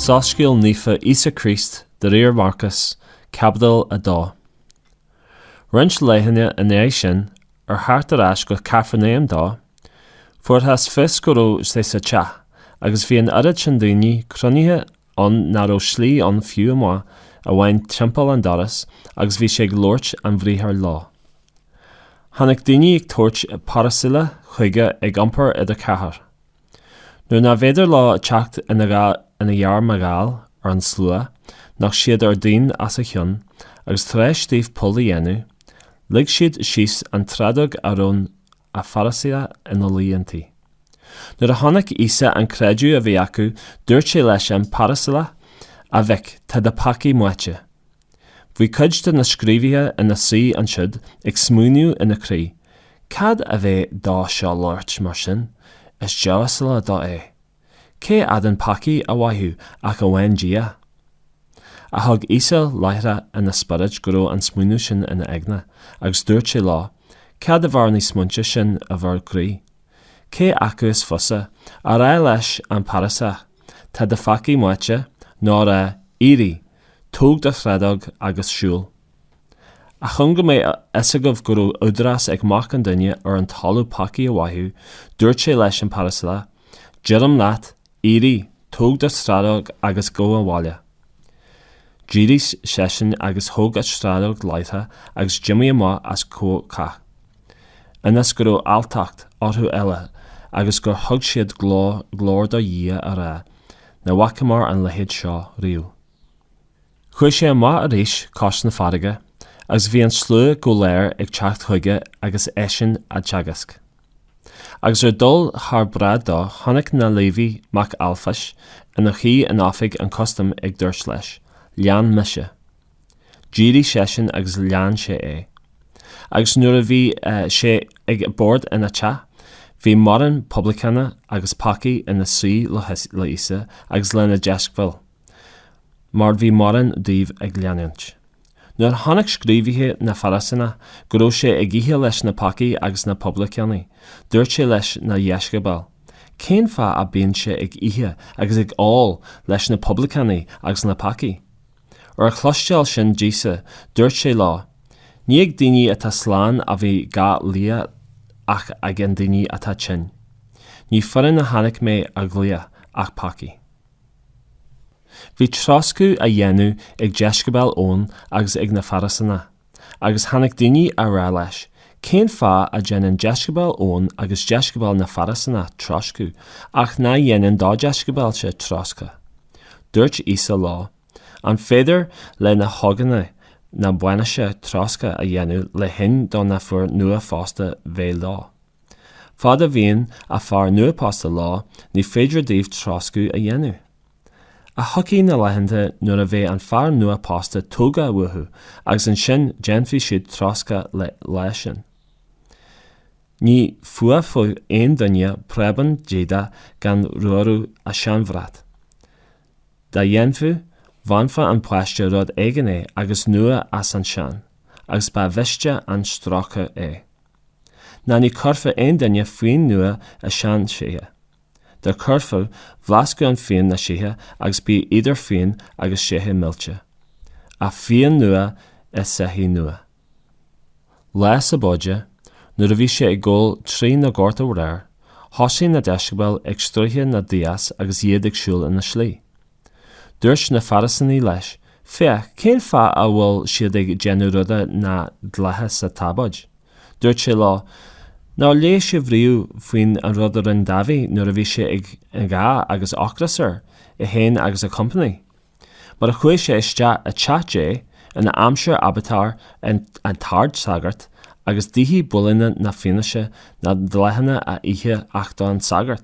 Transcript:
Soiscéal naofa Íosa Críost de réir Mharcas, caibidil 2. Roinnt laethanta ina dhiaidh sin, Ar theacht ar ais go Cafarnáum dó, fuarthas fios go raibh sé sa teach, agus bhí an oiread sin daoine cruinnithe ann ná raibh slí ann fiú amuigh amháin timpeall an doras, agus bhí sé ag labhairt an bhriathair leo. Tháinig daoine ag tabhairt pairilisigh chuige ag iompar idir cheathrar. Nuair nárbh fhéidir leo teacht ina ghar mar gheall ar an slua nocht siad an díon os a chionn agus tar éis dóibh poll a dhéanamh lig siad síos an tsráideog a raibh an pairiliseach ina luí inti. Nuair a chonaic Íosa an creideamh a bhí acu dúirt sé leis an pairiliseach A mhic, tá do pheacaí maite. Bhí cuid de na scríobhaithe ina suí ansiúd ag smaoineamh ina gcroí, Cad a bheir dó seo labhairt mar sin? Is diamhasla dó é. Cé fhéadann peacaí a mhaitheamh ach amháin Dia? Ach thuig Íosa láithreach ina spiorad go raibh an smaoineamh sin ina aigne, agus dúirt sé leo, Cad a bheir na smaointe sin i bhur gcroí? Cé acu is fusa, a rá leis an pairiliseach, Tá do pheacaí maite, nó a rá, Éirigh, Tóg do shráideog agus siúil. Ach chun go mbeadh a fhios agaibh go raibh údarás ag Mac an Duine ar an talamh peacaí a mhaitheamh, dúirt sé leis an pairiliseach, Deirim leat, éirigh, tóg do shráideog agus gabh abhaile. D'éirigh seisean agus thóg a shráideog láithreach agus d'imigh amach os comhair cách. Ionas go raibh alltacht orthu uile agus gur thug siad glóir do Dhia á rá, Ní bhfacamar an leithéid seo riamh. Chuaigh sé amach arís cois na farraige agus bhí an slua go léir ag teacht chuige agus eisean á dteagasc. Agus ar dhul thar bráid dó chonaic na Léiví mac Ailfáias ina shuí in oifig an chustaim ag dúirt leis, Lean mise. D'éirigh seisean agus lean sé é. Agus nuair a bhí sé ag bord ina theach, bhí mórán poibleacánach agus peacaigh ina suí le Íosa agus lena dheisceabail, mar bhí mórán díobh ag leanúint. Nuair a chonaic scríobhaithe na Fairisíneach go raibh sé ag ithe leis na peacaigh agus na poibleacánaigh, dúirt sé leis na dheisceabail, Cén fáth a bíonn sé ag ithe agus ag ól leis na poibleacánaigh agus na peacaigh? Ar a chloisteáil sin d'Íosa, dúirt sé leo, Ní ag daoine atá slán a bhí gá lia ach ag an daoine atá tinn. Ní fíréin a tháinig mé a ghlaoch ach peacaigh. Bhí troscadh á dhéanamh ag deisceabail Eoin agus ag na Fairisínigh. Agus tháinig daoine á rá leis, Cén fáth a dhéanann deisceabail Eoin agus deisceabail na bhFairisíneach troscadh, ach ná dhéanann do dheisceabailse troscadh? Dúirt Íosa leo, An féidir le na hógánaigh na bainise troscadh a dhéanamh le linn do na fir nuaphósta bheith leo? Fad a bhíonn an fear nuaphósta leo, ní féidir dóibh troscadh a dhéanamh. Ach tiocfaidh na laethanta nuair a bheidh an fear nua-pósta tógtha uathu agus ansin déanfaidh siad troscadh le lá sin. Ní fuafadh aon duine preabán d'éadach gan ramhrú ar seanbhrat. Dá ndéanfadh, bhainfeadh an paiste rud éigin é agus nua as an sean, agus ba mhiste an strócadh é. Ná ní chuirfeadh aon duine fíon nua i seanseithí. Dá gcuirfeadh, phléascfadh an fíon na seithí agus bíodh idir fíon agus seithí millte. Ach fíon nua i seithí nua. Lá sabóide, nuair a bhí sé ag gabháil trí na goirt arbhair, thosuigh na deisceabail ag stoitheadh na ndias agus iad ag siúl ina slí. Dúirt na Fairisínigh leis, Féach, cén fáth a bhfuil siad ag déanamh ruda nach dleathach sa tsabóid? Dúirt sé leo, Nár léigh sibh riamh faoin an rud a rinne Dáiví nuair a bhí sé ag gá agus ocras air, é féin agus a chompanaigh? Mar a chuaigh sé isteach i teach Dé in aimsir Aibiatár an t-ardsagart agus d'ith builíní na fianaise nach dleathach a n-ithe ach don sagart.